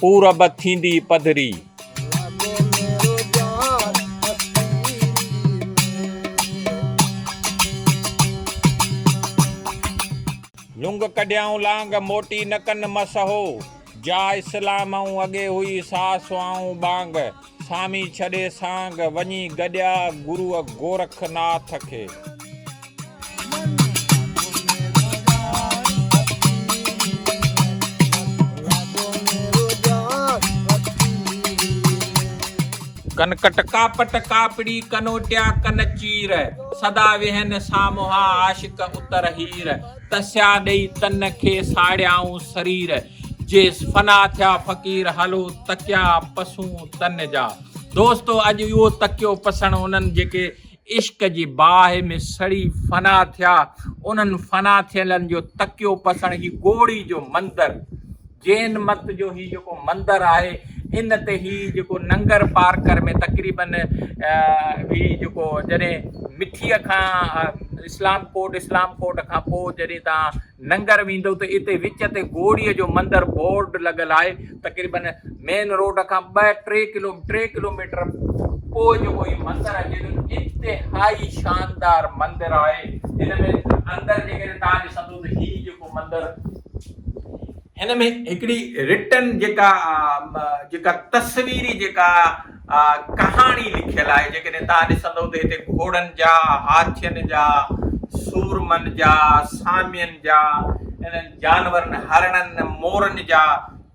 پورب ٿيندي پڌري. لنگ ڪڍيائون لانگ موٽي نه ڪن مس هو. جا اسلام ائون اڳي هئي سا سوائون ٻانگ. سامي ڇڏي سانگ، وڃي گڏيا گروء گورک ناٿ کي. ڪن ڪٽ ڪاپٽ ڪاپڙي ڪنوٽيا ڪن چير، سدا ويهن سامهون عاشق اتر هير. تسيا ڏئي تن کي ساڙيائون سرير جيس فنا ٿيا فقير هلو تڪيا پسون تن جا دوستو اڄ اهو تڪيو پسڻ انهن جيڪي عشق جي باهه ۾ سڙي فنا ٿيا انهن فنا ٿيلن جو تڪيو پسڻ هي گوڙي جو مندر جين مت جو هي جيڪو مندر آهي ان تي هي جيڪو ننگر پارڪر ۾ تقريباً هي جيڪو جڏهن مٺيء کان اسلام ڪوٽ اسلام ڪوٽ کان پوء جڏهن تان ننگر ويندو ته اتي وچ تي گوڙيء جو مندر بورڊ لڳل آهي تقريباً مين روڊ کان ٻه ٽي ڪلو ٽي ڪلوميٽر پوء جيڪو هي مندر اچي ٿو انتهائي شاندار مندر آهي هن ۾ اندر جيڪڏهن تان ڏسندو ته هي جيڪو مندر هن ۾ هڪڙي رٽن جيڪا جيڪا تصويري جيڪا ڪهاڻي لکيل آهي جيڪڏهن توهان ڏسندو ته هتي گهوڙن جا، هاٿين جا، سورمن جا، سامين جا، انهن جانورن هرڻن، مورن جا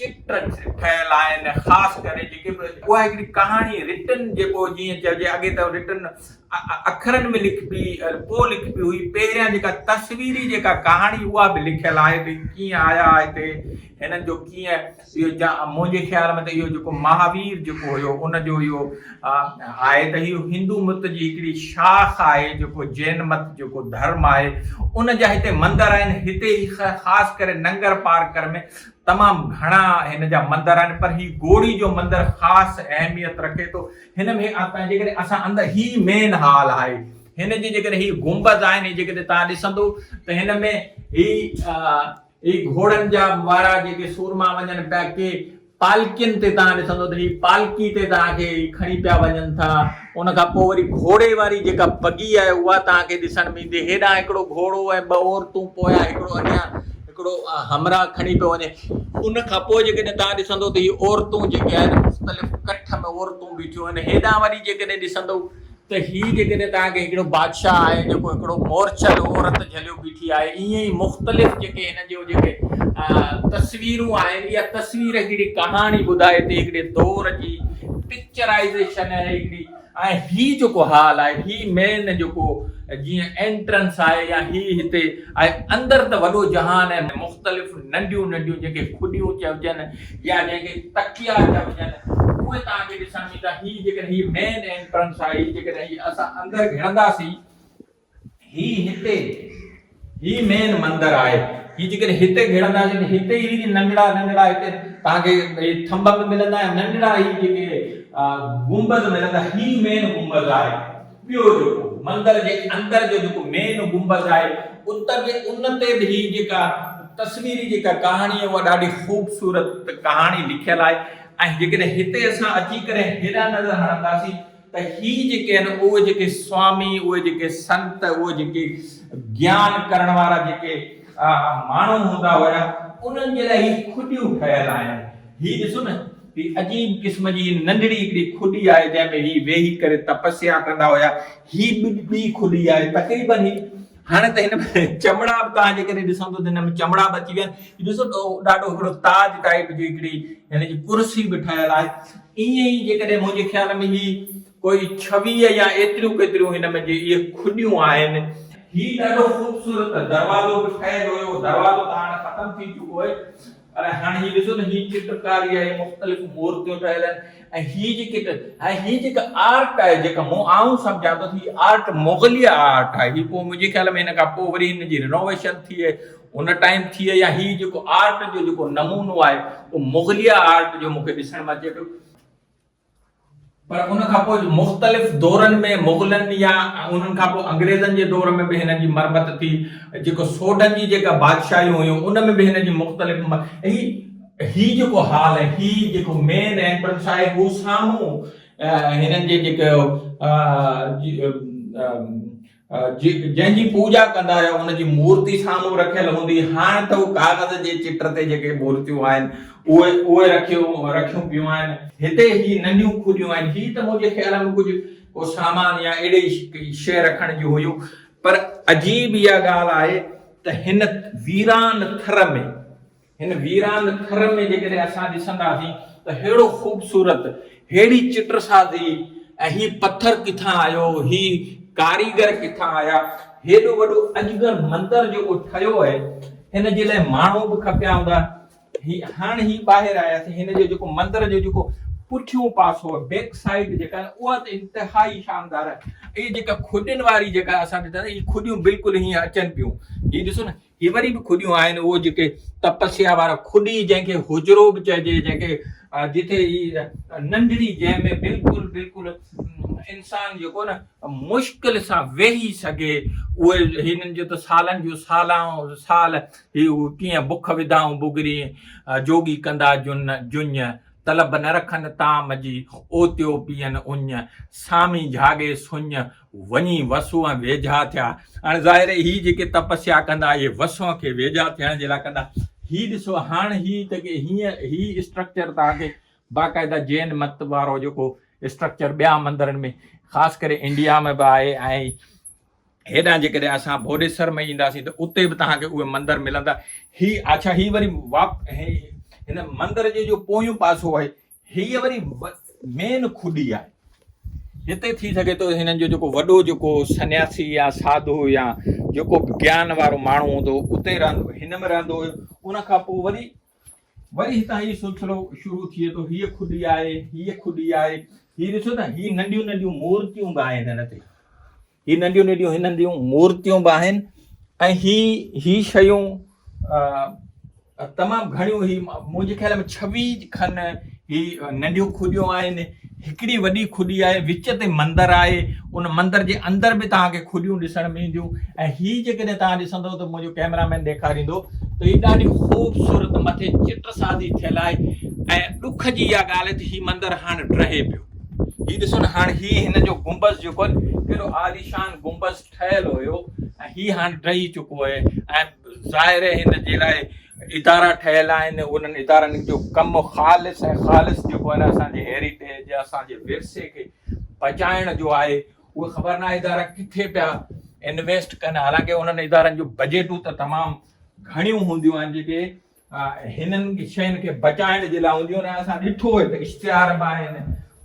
چتر ٺهيل آهن خاص ڪري جيڪي به اها هڪڙي ڪهاڻي رٽن جيڪو جيئن چئجي اڳي ته رٽن اکرن ۾ لکبي ۽ پوء لکبي هئي. پهريان جيڪا تصويري جيڪا ڪهاڻي اها به لکيل آهي ته ڪيئن آيا هتي، هنن جو ڪيئن اهو جا منهنجي خيال ۾ ته اهو جيڪو مهاوير جيڪو هيو ان جو اهو آهي ته اهو هندو مت جي هڪڙي شاخ آهي جيڪو جين مت جيڪو ڌرم آهي ان جا هتي مندر آهن هتي هي خاص ڪري ننگر پارڪر ۾ تمام گهڻا هن جا مندر آهن پر هي گوڙي جو مندر خاص اهميت رکي ٿو. هن ۾ هي آتما آهي جيڪڏهن اسان اندر هي مين هال آهي هن جي جيڪڏهن هي گنبذ آهن هي جيڪڏهن توهان ڏسندو ته هن ۾ هي هي گهوڙن جا وارا جيڪي سورما وڃن پيا ڪي پالڪين تي توهان ڏسندو ته هي پالڪي تي توهان کي کڻي پيا وڃن ٿا ان کان پوء وري گهوڙي واري جيڪا بگي آهي اها توهان کي ڏسڻ ۾ ايندي هيڏانهن هڪڙو گهوڙو ۽ ٻه عورتون پويان هڪڙو اڳيان هڪڙو همراهه کڻي پيو وڃي. ان کان پوء جيڪڏهن توهان ڏسندو ته هي عورتون جيڪي آهن مختلف ڪٺ ۾ عورتون بيٺيون آهن هيڏانهن وري جيڪڏهن ڏسندو ته هي جيڪڏهن توهان کي هڪڙو بادشاهه آهي جيڪو هڪڙو مورچه جو عورت جهليو بيٺي آهي ائين ئي مختلف جيڪي هن جو جيڪي تصويرون آهن اها تصوير هڪڙي ڪهاڻي ٻڌائي ٿي هڪڙي دور جي پڪچرائيزيشن آهي هڪڙي ۽ هي جيڪو هال آهي هي مين جيڪو جيئن انٽرنس آهي يا هي هتي آهي اندر ته وڏو جهان ۽ مختلف ننڍيون ننڍيون جنهن کي کڏيون چئبجن يا جنهن کي تڪيا چئبجن اهي توهان کي ڏسڻ ۾ ايندا هي جيڪڏهن هي مين انٽرنس آهي هي جيڪڏهن هي اسان اندر گهڙنداسين هي هتي هي مين مندر آهي هي جيڪڏهن هتي گهڙنداسين ته هتي هي جي ننڍڙا ننڍڙا هتي تهان کي هي ٿنڀ به ملندا ۽ ننڍڙا هي جيڪي گنبذ ملندا هي مين گنبذ آهي ٻيو جيڪو مندر جي اندر جو جيڪو مين گنبذ آهي اتر جي ان تي به هي جيڪا تصويري جيڪا ڪهاڻي آهي اها ڏاڍي خوبصورت ڪهاڻي لکيل آهي ۽ جيڪڏهن هتي اسان اچي ڪري هيڏانهن نظر هڻنداسين ته هي جيڪي آهن اهي جيڪي سوامي، اهي جيڪي سنت، اهي جيڪي گيان ڪرڻ وارا جيڪي ماڻهو هوندا هيا انهن جي لاء هي کڏيون ٺهيل آهن. هي ڏسو نه هي عجيب قسم جي ننڍڙي هڪڙي کڏي آهي جنهن ۾ هي ويهي ڪري تپسيا ڪندا هيا. هي ٻي کڏي آهي تقريبن هي هاڻي ته هن ۾ چمڙا به توهان جيڪڏهن ڏسندو ته هن ۾ چمڙا به اچي ويا آهن ڏسو ته ڏاڍو هڪڙو تاج ٽائيپ جي هڪڙي هن جي ڪرسي به ٺهيل آهي ائين ئي جيڪڏهن منهنجي خيال ۾ هي ڪوئي ڇويهه يا ايتريون ڪيتريون هن ۾ جي اهي کڏيون آهن هي ڏاڍو خوبصورت دروازو به ٺهيل هيو دروازو ته هاڻي ختم ٿي چڪو آهي پر هاڻي هي ڏسو ته هي چٽڪاري آهي، مختلف مورتيون ٺهيل آهن ۽ هي جيڪي ته هاڻي هي جيڪا آرٽ آهي جيڪا مون آئون سمجهان ٿو ته هي آرٽ مغليه آرٽ آهي، هي پوء منهنجي خيال ۾ هن کان پوء وري هن جي رينوويشن ٿئي ان ٽائيم ٿئي يا هي جيڪو آرٽ جو جيڪو نمونو آهي اهو مغليه آرٽ جو مون کي ڏسڻ ۾ اچي پيو. پر ان کان پوء مختلف دورن ۾ مغلن يا انهن کان پوء انگريزن جي دور ۾ به هن جي مرمت ٿي. جيڪو سوڍن جي جيڪا بادشاهيون هيون ان ۾ به هن جي مختلف هي هي جيڪو هال ۽ هي جيڪو مين اينٽرنس آهي هو سامهون هنن جي جيڪو جنهن جي پوڄا ڪندا آهيو ان جي مورتي سامهون رکيل هوندي هاڻ ته هو ڪاغذ جي چٽ تي جيڪي مورتيون آهن اهي اهي رکيون رکيون پيون آهن. هتي هي ننڍيون کجيون آهن هي ته منهنجي خيال ۾ ڪجهه ڪو سامان يا اهڙي ئي شيء رکڻ جون هيون پر عجيب اها ڳالهه آهي ته هن ويران ٿر ۾ هن ويران ٿر ۾ جيڪڏهن اسان ڏسنداسين ته ههڙو خوبصورت، ههڙي چٽ سازي ۽ هي پٿر ڪٿان آيو، هي ڪاريگر ڪٿان آيا، هيڏو وڏو اجگر مندر جيڪو ٺهيو آهي، هن جي لاء ماڻهو به کپيا هوندا. هي هاڻ هي ٻاهر آياسين، هن جو جيڪو مندر جو جيڪو پٺيون پاسو آهي، بيڪ سائيڊ جيڪا آهي اها ته انتهائي شاندار آهي. اهي جيڪا کڏين واري جيڪا اسان ڏٺاسين، هي کڏيون بلڪل هيئن اچن پيون. هي ڏسو نه هي وري به کڏيون آهن، اهو جيڪي تپسيا وارا کڏي جنهن کي حجرو به چئجي، جنهن کي جتي هي ننڍڙي جنهن ۾ بلڪل بلڪل انسان جيڪو نه مشڪل سان ويهي سگهي، اهي هنن جو ته سالن جون سالان سال هي ڪيئن بک وڌائون بگرين، جوڳي ڪندا جن جڃ، طلب نه رکن طعام جي، اوتيو پيئن اڃ، سامي جهاڳي سڃ، وڃي وسوء ۽ ويجها ٿيا. هاڻي ظاهر آهي هي جيڪي تپسيا ڪندا اهي وسوء کي ويجها ٿيڻ جي لاء ڪندا. هي ڏسو هاڻ هي جيڪي هيئن هي اسٽرڪچر توهان کي باقاعده جين مت وارو جيڪو اسٽرڪچر ٻيا مندرن ۾ خاص ڪري انڊيا ۾ به آهي ۽ هيڏانهن جيڪڏهن اسان بوڏيسر ۾ اينداسين ته اتي به توهان کي اهي مندر ملندا. هي اڇا هي وري واپ هن مندر جي جو پويون پاسو آهي هيء وري مين کڏي آهي. هتي ٿي سگهي ٿو هنن جو جيڪو وڏو جيڪو سنياسي يا ساڌو يا جيڪو به گيان وارو ماڻهو هوندو هو اتي رهندو هن ۾ رهندو هيو ان کان پوء وري وري هتان هي سلسلو شروع ٿئي ٿو هيء کڏي آهي هيء کڏي آهي هي ڏسو ته هي ننڍيون ننڍيون مورتيون به آهن هن تي هي ننڍيون ننڍيون هن هنديون مورتيون به آهن ۽ هي هي شيون تمام گهڻيون هي منهنجي خيال ۾ ڇوي کن هي ننڍيون کڏيون آهن هڪڙي وڏي کڏي آهي وچ تي مندر آهي ان مندر جي اندر به توهان کي کڏيون ڏسڻ ۾ اينديون ۽ هي جيڪڏهن توهان ڏسندو ته منهنجو ڪيمرا مين ڏيکاريندو ته هي ڏاڍي خوبصورت مٿي چٽ سازي ٿيل آهي ۽ ڏک جي اها ڳالهه ته هي مندر هاڻ ڊهي پيو هي ڏسو نه هاڻ هي هن جو گنبذ جيڪو آهي ڪيڏو عاليشان گنبذ ٺهيل هيو ۽ هي هاڻ ڊهي چڪو آهي ۽ ظاهر آهي هن جي لاء ادارا ٺهيل آهن انهن ادارن جو ڪم خالص ۽ خالص جيڪو آهي نه اسان جي هيريٽيج اسان جي ورثي کي بچائڻ جو آهي اهي خبر نه ادارا ڪٿي پيا انويسٽ ڪن حالانڪه انهن ادارن جون بجيٽون ته تمام گهڻيون هونديون آهن جيڪي هنن شين کي بچائڻ جي لاء هونديون آهن اسان ڏٺو آهي ته اشتهار به آهن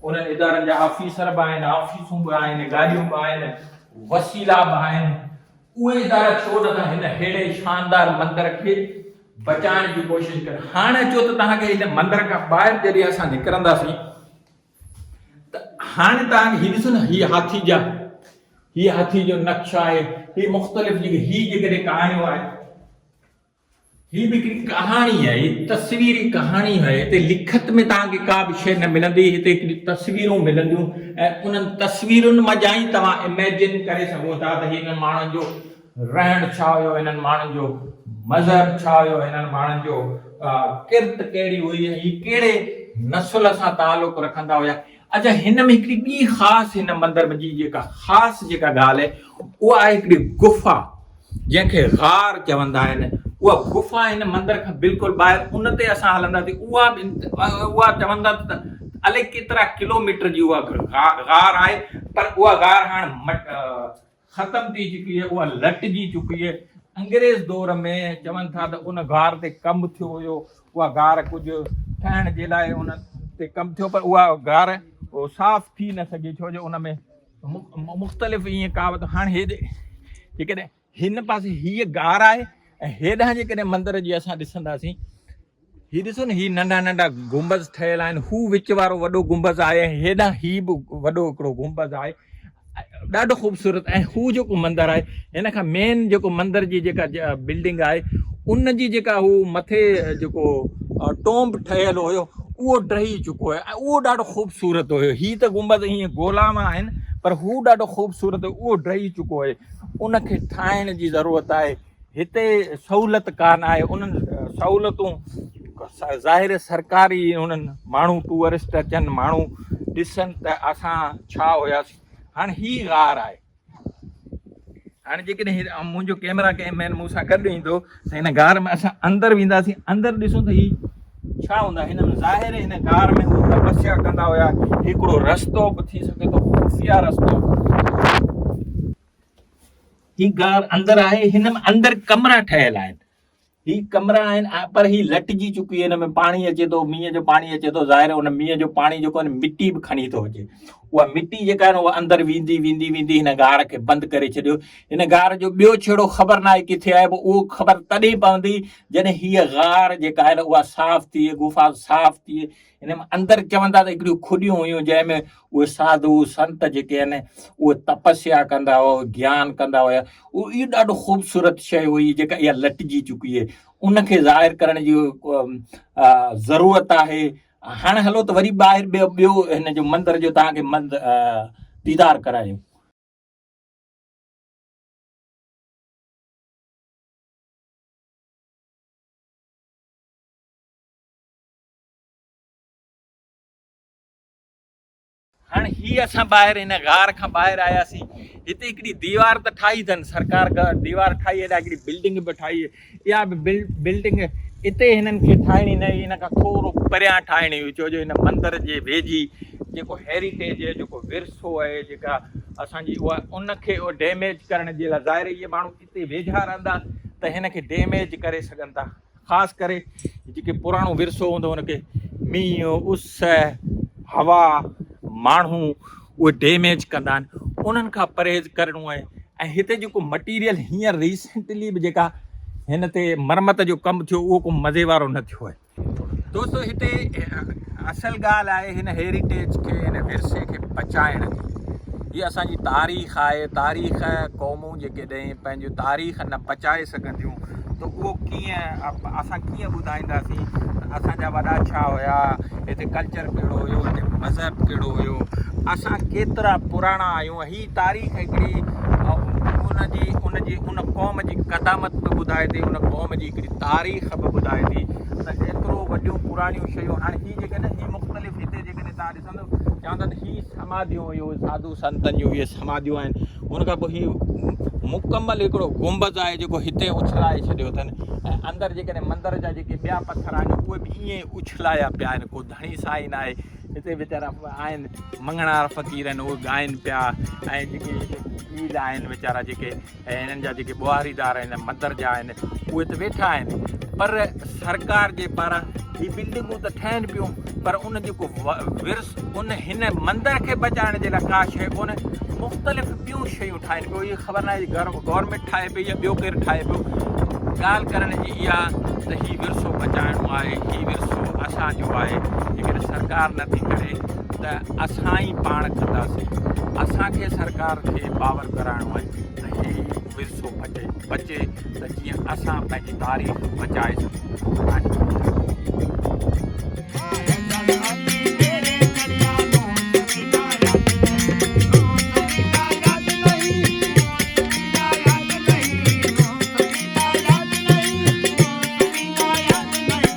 انهن ادارن جا آفيسر به آهن آفيسون به آهن گاڏيون به آهن وسيلا به آهن اهي ادارا ڇو نٿا هن ههڙي شاندار مندر کي بچائڻ جي ڪوشش ڪن هاڻي اچو ته توهان کي هن مندر کان ٻاهر جڏهن اسان نڪرنداسين ته هاڻي توهان کي ڏسو نه هي هاٿي جا هي هاٿي جو نقشو آهي هي مختلف جيڪي هي جيڪڏهن ڪهاڻيون آهن هي به هڪڙي ڪهاڻي آهي، تصويري ڪهاڻي آهي. هتي لکت ۾ توهان کي ڪا به شيء نه ملندي، هتي هڪڙيون تصويرون ملنديون ۽ انهن تصويرن منجهان ئي توهان Imagine ڪري سگهو ٿا ته هنن ماڻهن جو رهڻ ڇا هيو، هنن ماڻهن جو مذهب ڇا هيو، هنن ماڻهن جو ڪرت ڪهڙي هئي ۽ هي ڪهڙي نسل سان تعلق رکندا هيا. اچا هن ۾ هڪڙي ٻي خاص هن مندر ۾ جي جيڪا خاص جيڪا ڳالهه آهي اها آهي هڪڙي گفا جنهن کي غار چوندا آهن اها گفا هن مندر کان بلڪل ٻاهر ان تي اسان هلنداسين اها اها چوندا ته الي ڪيترا ڪلوميٽر جي اها غار آهي پر اها غار هاڻ ختم ٿي چڪي هئي اها لٽجي چڪي هئي انگريز دور ۾ چون ٿا ته ان غار تي ڪم ٿيو هيو اها غار ڪجهه ٺهڻ جي لاء ان تي ڪم ٿيو پر اها غار صاف ٿي نه سگهي ڇو جو ان ۾ مختلف ائين ڪاوت هاڻي هيڏي جيڪڏهن هن پاسي هيء غار آهي ۽ هيڏانهن جيڪڏهن مندر جي اسان ڏسنداسين هي ڏسو نه هي ننڍا ننڍا گنبذ ٺهيل آهن هو وچ وارو وڏو گنبذ آهي ۽ هيڏانهن هي به وڏو هڪڙو گنبذ آهي ڏاڍو خوبصورت ۽ هو جيڪو مندر آهي هن کان مين جيڪو مندر جي جيڪا بلڊنگ آهي ان جي جيڪا هو مٿي جيڪو ٽومب ٺهيل هيو اهو ڊهي چڪو آهي ۽ اهو ڏاڍو خوبصورت هيو هي ته گنبذ ائين گولا مان آهن پر هو ڏاڍو خوبصورت اهو ڊهي چڪو آهي ان کي ٺاهڻ جي ضرورت آهي هتي سهولت ڪانه آهي انهن سهولتون ظاهر سرڪاري انهن ماڻهو ٽوئرسٽ اچن ماڻهو ڏسن ته اسان ڇا هياسي هاڻي هي غار آهي هاڻي جيڪڏهن منهنجو ڪيمرا ڪنهن مين مون سان گڏ ايندو ته هن غار ۾ اسان اندر وينداسي اندر ڏسون ته هي ڇا هوندا هن ۾ ظاهر هن غار ۾ هو تپسيا ڪندا هيا هڪڙو رستو به ٿي سگهي ٿو خفيه رستو هي غار اندر آهي هن ۾ اندر ڪمرا ٺهيل آهن هي ڪمرا آهن پر هي لٽجي چڪي هن ۾ پاڻي اچي ٿو مينهن جو پاڻي اچي ٿو ظاهر هن مينهن جو پاڻي جيڪو آهن مٽي به کڻي ٿو اچي اها مٽي جيڪا آهن اها اندر ويندي ويندي ويندي هن غار کي بند ڪري ڇڏيو هن غار جو ٻيو ڇيڙو خبر ناهي ڪٿي آهي اهو خبر تڏهن پوندي جڏهن هيء غار جيڪا آهي اها صاف ٿئي گفا صاف ٿئي ان ۾ اندر چون ٿا ته هڪڙيون کڏيون هيون جنهن ۾ اهي ساڌو سنت جيڪي آهن اهي تپسيا ڪندا هئا گيان ڪندا هيا اهو ڏاڍو خوبصورت شيء هئي جيڪا اها لٽجي چڪي آهي ان کي ظاهر ڪرڻ جي ضرورت آهي هاڻي هلو ته وري ٻاهر ٻيو هن جو مندر جو تان کي مند ديدار ڪرايو هاڻي هي اسان ٻاهر هن غار کان ٻاهر آياسين هتي هڪڙي ديوار ته ٺاهي اٿن سرڪار ديوار ٺاهي هيڏا هڪڙي بلڊنگ به ٺاهي اها به بلڊنگ اتي هنن کي ٺاهڻي نه هن کان ٿورو پريان ٺاهڻي هئي ڇو جو هن مندر جي ويجهي جيڪو هيريٽيج آهي جيڪو ورثو آهي جيڪا اسانجي اها ان کي ڊيميج ڪرڻ جي لاء ظاهر هي ماڻهو اتي ويجها رهندا ته هن کي ڊيميج ڪري سگهن ٿا خاص ڪري جيڪي پراڻو ورثو هوندو ان کي مينهن اس هوا ماڻهو اهي ڊيميج ڪندا آهن انهن کان پرهيز ڪرڻو آهي ۽ هتي جيڪو مٽيريل هينئر ريسنٽلي به جيڪا هن تي مرمت جو ڪم ٿيو اهو ڪو مزي وارو نه ٿيو آهي دوستو هتي اصل ڳالهه آهي هن هيريٽيج کي هن ورثي کي بچائڻ جي هي اسانجي تاريخ آهي تاريخ قوم ڪريون جيڪڏهن پنهنجي تاريخ نه بچائي سگهنديون ته اهو ڪيئن اسان ڪيئن ٻڌائينداسين ته اسان جا وڏا ڇا هيا هتي ڪلچر ڪهڙو هيو هتي مذهب ڪهڙو هيو اسان ڪيترا پراڻا آهيون هي تاريخ هڪڙي ان جي ان جي ان قوم جي قدامت به ٻڌائي ٿي ان قوم جي هڪڙي تاريخ به ٻڌائي ٿي ته ايترو وڏيون پراڻيون شيون هاڻي هي جيڪڏهن هي مختلف هتي جيڪڏهن تاريخ سندس چوندن هي سماڌيون هيون ساڌو سنتن جون هي سماڌيون آهن ان کان پوء هي مڪمل هڪڙو گنبذ آهي جيڪو هتي اڇلائي ڇڏيو اٿن ۽ اندر جيڪڏهن مندر جا جيڪي ٻيا پٿر آهن اهي به ائين اڇلايا پيا آهن ڪو ڌڻي سائين آهي هتي ويچارا آهن مڱڻار فقير آهن اهي ڳائن پيا ۽ جيڪي هتي فقير آهن ويچارا جيڪي ۽ هنن جا جيڪي ٻوهاريدار آهن مندر جا آهن اهي ته ويٺا آهن پر سرڪار جي پاران هي بلڊنگون ته ٺهن پيون پر ان جو ڪو ورس ان هن مندر کي بچائڻ جي لاء ڪا شيء ڪونهي مختلف ٻيون شيون ٺاهين پيو هي خبر ناهي گورنمنٽ ٺاهي پئي يا ٻيو ڪير ٺاهي پيو ڳالهه ڪرڻ جي اها ته هي ورثو بچائڻو آهي هي ورثو اسانجو آهي جيڪڏهن سرڪار نٿي ڪري ته اسان ئي پاڻ ڪنداسين، اسان کي سرڪار کي باور ڪرائڻو آهي ته هي ورثو بچي ته جيئن اسان پنهنجي تاريخ بچائي سگهون ۽ دنيا ۾.